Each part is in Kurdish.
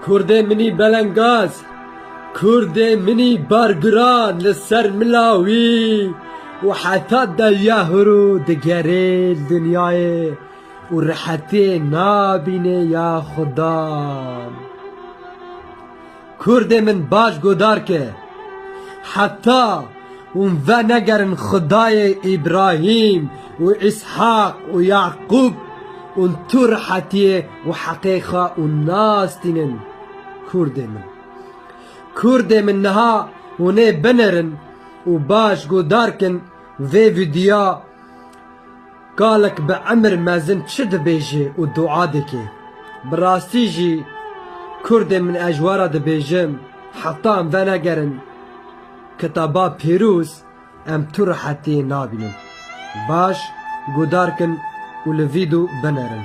Kurdê minî belengaz, Kurdê minî bargiran li ser mila wî û heta dawiya hurû digerê li dinyayê û rehetiyê nabînê ya xudan. Kurdê min baş godar ke, Heta hûn venegerin Xwedayê Îbrahîm û Îshak û Yaqûb ûn tu rihetiyê û heqê xwe ûn nastînin Kurdê min. Kurdê min niha hûn ê binerin û baş godar kin vê vîdyoya. Kalek bi emir mezin çi dibêje û dua dike. Bi rastî jî kurdê min ez ji we re dibêjim heta em venegerin kitaba pîroz em tu rehetiyê nabînin. Baş guhdar kin û li vîdo binerin.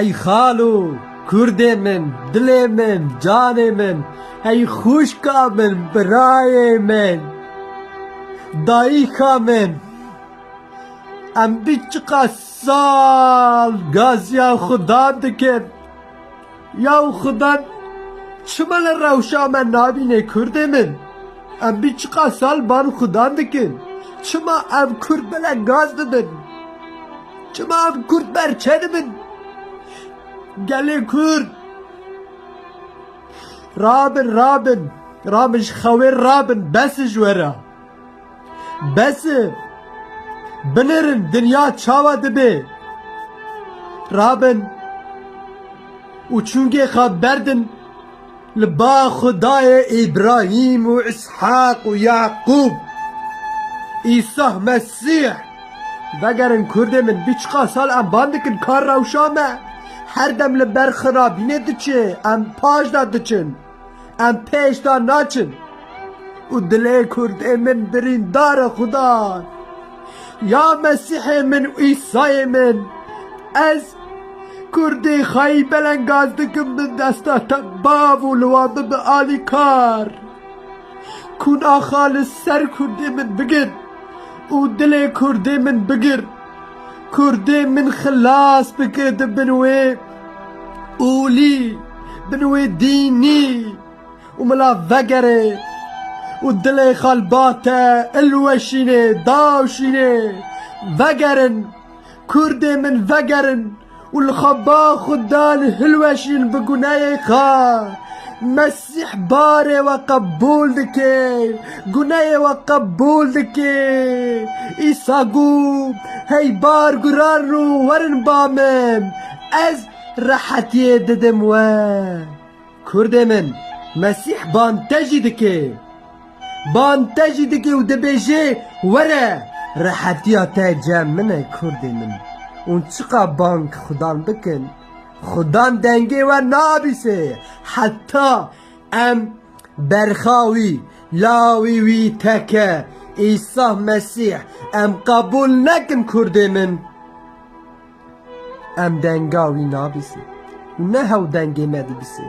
Ey xalo, kurdê min, dilê min, canê min, ey xwişka min, birayê min, dayîka min, em bi çiqas Sal gaziya Xuda dikin. Yaw Xuda çima li rewşa me nabînê Kurdê min? Em bî çiqas sal ban Xuda dikin. Çima ev Kurd bile gaz didin? Çima ev Kurd berçe dibin? Gelê Kurd rabin rabin rabin ji xewê rabin bes e ji we re. Bes e! Binêrin dinya çawa dibe! Rabin û çûngê xwe berdin li ba Xwedayê Îbrahîm û Îshaq û Yaqûb, Îsah Mesîh! Vegerin kurdê min, bî çiqas sal em ban dikin ka rewşa me her dem li ber xirabînê diçe, em paşda diçin. Em pêş da naçin û dilê Kurdê min birîndar e Xudan. Ya Mesîhê min û Îsayê min, ez Kurdî xwayî belengaz dikim bi desta te bav û li wan bibe alîkar. Kûn axa li ser Kurdê min bigir û dilê Kurdê min bigir. Kurdê min xilas bike di bin wê. Olî bin wê dînî û mila vegerê û dilê xalbate ilweşînê, dawşînê, vegerin, kurdê min vegerin û li xwe ba xwe dan hilweşîn bi guneyê xwe. Îhbarê we qebûl dike, guneyê we qebûl dike. Îsa got, Hey bar guran rû werin ba min, ez rehetiyê didim we. Kurdê min, Mesîh ban te jî dike. Ban te jî dike û dibêje, Were, rehetiya te cem min e kurdê min. Hûn çiqas bang xudan bikin. Xudan dengê we nabîsê heta em berxa wî, lawê wî teke Îsa Mesîh em qebûl nekin kurdê min em denga wî nabîsê û ne hew dengê me dibîsê.